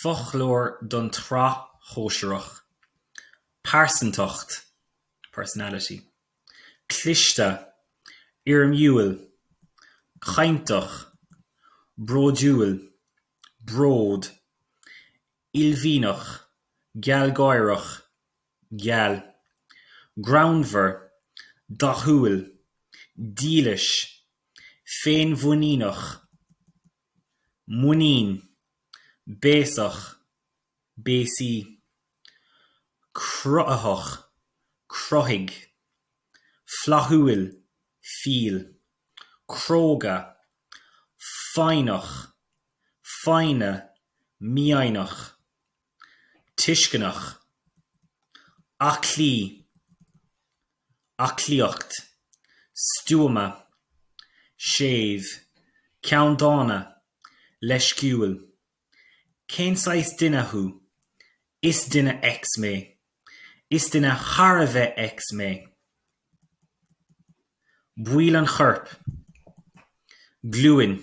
Foclóir don tsraith shóisearach. Pearsantacht, personality. Cliste, éirimiúil, cainteach, bródúil, bród, uaillmhianach, gealgháireach. geal, greannmhar, dathúil, dílis, féinmhuiníneach, muinín, béasach, béasa, cruthaitheach, cruthaigh, flaithiúil, fial, cróga, foighneach, foighne, mífhoighneach. tuisceanach, aclaí, aclaíocht, stuama, séimh, ceanndána, leisciúil, cén saghas duine thú? is duine X mé, is duine thar a bheith X mé, baill an choirp, glúin,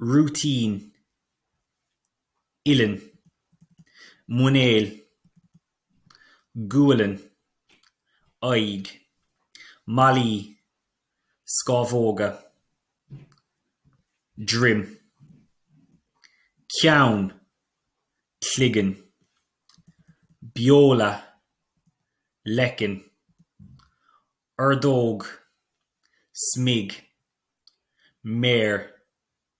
rúitín, uillinn, muineál, gualainn, aghaidh, malaí, scámhóga, droim, ceann, cloigeann, beola, leiceann, ordóg, smig, méar.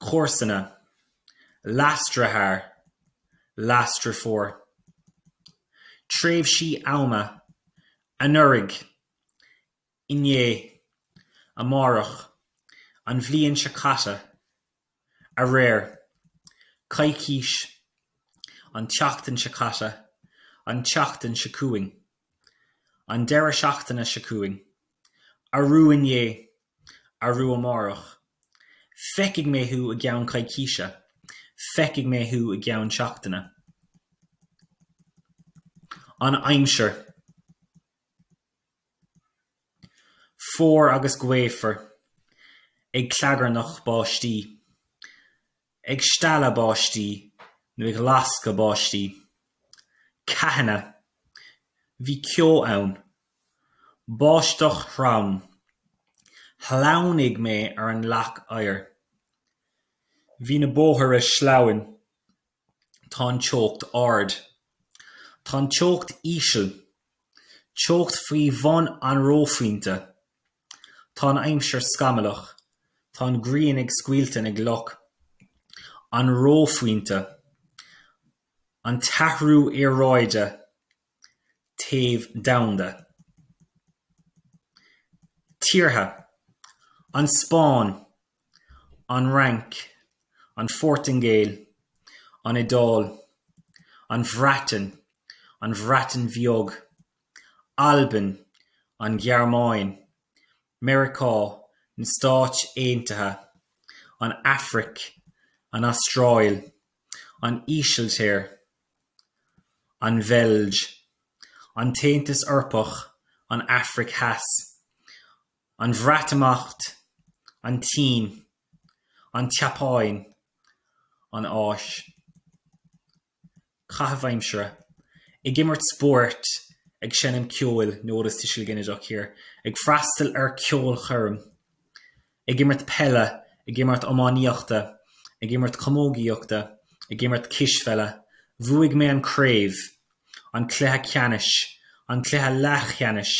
comharsana, leasdeartháir, leasdeirfiúr, tréimhsí ama, anuraidh, inné, amárach, an bhliain seo caite, aréir, coicís, an tseachtain seo caite, an tseachtain seo chugainn, an deireadh seachtaine seo chugainn, arú inné. Arú amárach. Feicfidh mé thú i gceann coicíse. Feicfidh mé thú i gceann seachtaine. An aimsir. Fuar agus gaofar. Ag clagarnach báistí. ag stealladh báistí nó ag lascadh báistí, ceathanna, bhí ceo ann, báisteach throm, shleamhnaigh mé ar an leac oighir, bhí na bóithre sleamhain, tá an teocht ard, tá an teocht íseal, teocht faoi bhun an reophointe. Tá an aimsir scamallach. Tá an ghrian ag scoilteadh na gcloch. An reophointe. An t-athrú aeráide. Téamh domhanda. Tíortha, An Spáinn, An Fhrainc, An Phortaingéil, An Iodáil, An Bhreatain, An Bhreatain Bheag. Albain, an Ghearmáin, Meiriceá, na Stáit Aontaithe, an Afraic, an Astráil, an Ísiltír, an Bheilg, an tAontas Eorpach, an Afraic Theas, an Bhreatimeacht, an tSín, an tSeapáin, an Áis. caitheamh aimsire, ag imirt spóirt, ag seinm ceoil, notice tuiseal ginideach here, ag freastal ar ceolchoirm, ag imirt peile, ag imirt iománaíochta, ag imirt camógaíochta, ag imirt cispheile, bhuaigh mé an craobh, an cluiche ceannais, an cluiche leathcheannais,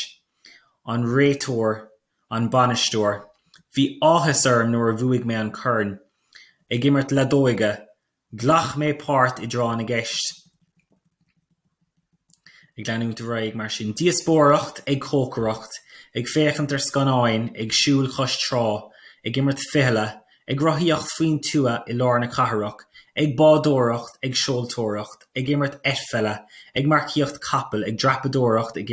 an réiteoir, an bainisteoir, bhí áthas orm nuair a bhuaigh mé an corn, ag imirt leadóige, Ghlac mé páirt i dTráth na gCeist ag leanúint ar aghaidh mar sin, díospóireacht ag cócaireacht, ag féachaint ar scannáin, ag siúl cois trá, ag imirt fichille, ag rothaíocht faoin tuath i lár na cathrach, ag bádóireacht, ag seoltóireacht, ag imirt eitpheile, ag marcaíocht capall, ag dreapadóireacht, ag.